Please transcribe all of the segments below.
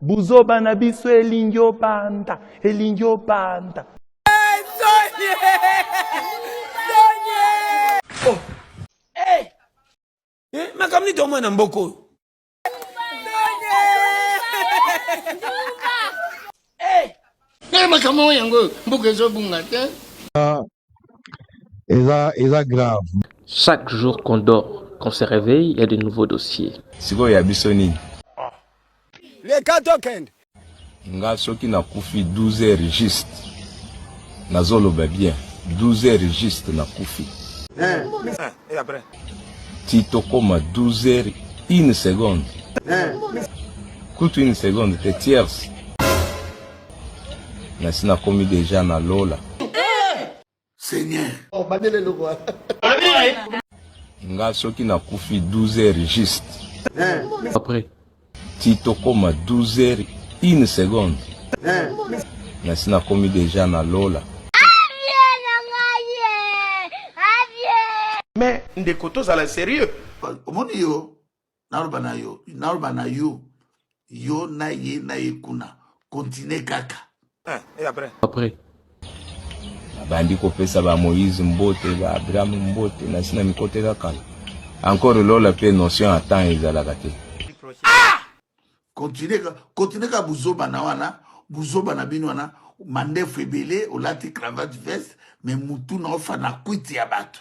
Buzoba na biso elingi obanda, elingi obanda. Oh. Hey. Eh. Hey, eh, makambo nini tomona na mboka oyo makambo yango mboka ezobunga te eza eza grave Chaque jour qu'on dort, qu'on se réveille, il y a de nouveaux dossiers. sikoyo ya biso nini Leka tokende. nga soki nakufi 12 heures juste nazoloba bien 12 heures juste nakufi ti tokoma 12 heures une seconde kutu une seconde te tierce Nasi nakomi deja na lola. Seigneur. Oh, bandele eloko wana. Nga soki nakufi 12 heures juste. Eh. Après. Ti tokoma 12 heures une seconde. Eh. Nasi nakomi deja na lola. Mais ndeko tozala serieux. Omoni yo naloba na yo naloba na yo yo na ye na ye kuna continue kaka eh, et après après abandi kopesa ba moïse mbote ba abraham mbote nasi na mikoteka kala encore lola mpe notion ya temps ezalaka te ah! continue ka buzoba na wana buzoba na bino wana mandefu ebele olati cravate veste me mutu na ofana kwiti ya bato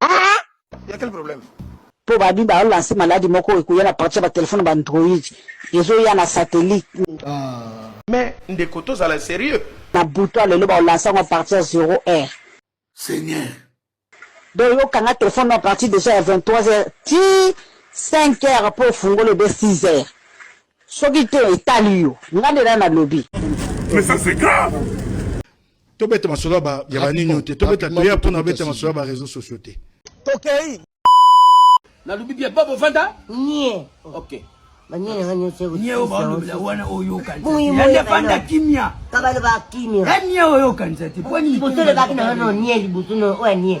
Ah! Ya quel problème? Po ba bi ba lancer maladi moko ekoya na partir ya ba telephone ba android ezo ya na satellite. Ah! Mais ndeko tozala serieux. Na butu ya lelo ba lancer yango a partir ya zero heure. Seigneur. Donc yo kanga telephone na partir dejà ya 23 heures ti 5 heures po ofungola ebe 6 heures. Soki te etali yo. Nga nde na nalobi. Mais ça c'est grave. tobeta masolo ya banini oyo te tobeta toya mpo na beta masolo ya bareseau sociaux te tokei nalobi bie bobo vanda nie ok nie oyo baolobela wana oyokaniyande vanda kimia kabaloba kimia anie oyokanisa te mpo nini bosolobaki na wana nie liboso oyo anie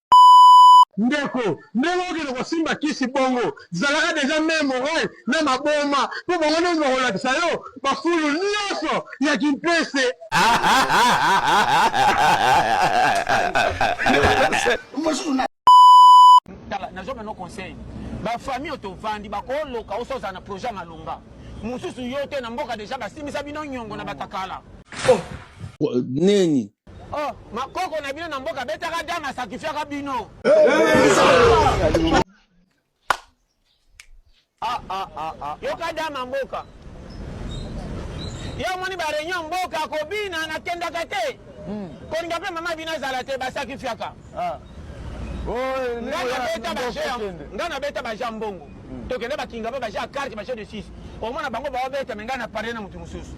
Ndeko, ndenge okende kosimba kisi bongo, zalaka deja main morale na maboma mpo bango nde bakolakisa yo bafulu nionso ya kimpese. Tala, nazwa bino conseil, ba famille oyo tovandi bakoloka oso ozala na projet ya malonga mosusu yo te na mboka deja basimbisa bino nyongo na batakala. Neni Oh, makoko na bino na mboka betaka dame asakifiaka bino. Ah, ah, ah, ah. Yoka dame mboka. Yo moni ba réunion mboka kobina na kendaka te. Hmm. Kolinga pe mama bino azala te basakifiaka. Ah. Oh, nga nabeta ba jeu, nga nabeta ba jeu mbongo. tokende bakinga ba baja carte baja de 6 omona bango baobeta me ngai na pare na motu mosusu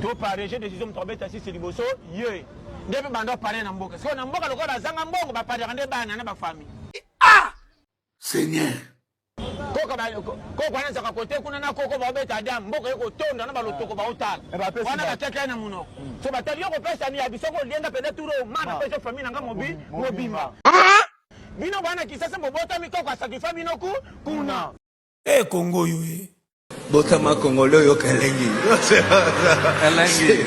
to pare je decision moto abeta 6 liboso ye nde mpe banda pare na mboka sikoyo na mboka lokola bazanga mbongo baparaka nde bana na bafami ah! seigneur koko wana ezaka kote kuna na koko baobeta adam mboka ye kotonda na balotoko baotala eh, wana bakekei na monoko so batali yo kopesa miyabi soko olienga mpenza turo ma napesa famille na nga mobimba ah! Bino bana kisasa bobotami koko asakifa bino ku kuna. Eh Congo yo eh. Botama Congolais oyo kalengi. Kalengi.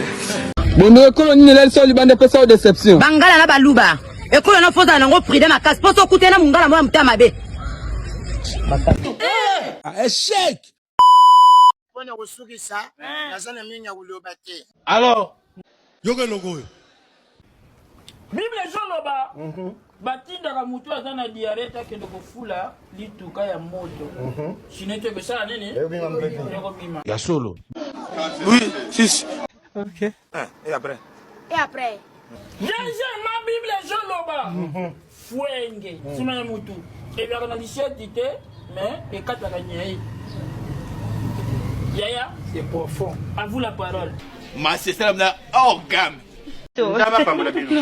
bondo ekolo nini elali solo libanda epesa yo deception bangala na baluba ekolo na fozala nango prida makasi mpo sokutena mongala moko ya motema mabe echec mpo na kosukisa eh. naza na mingi ya koloba te alors yoka eloko oyo bible ezoloba mhm. batindaka motu aza na diare takende kofula lituka ya moto mhm. sino ete ekosala nini ekobima ya solo oui sisi okay. Eh, et après? Et après? Deuxièmement, Bible ezoloba fuenge nsima ya motu ebelaka na liseti te mais ekataka nyei yaya c'est profond à vous la parole masesala na orgame nzambe apambola bino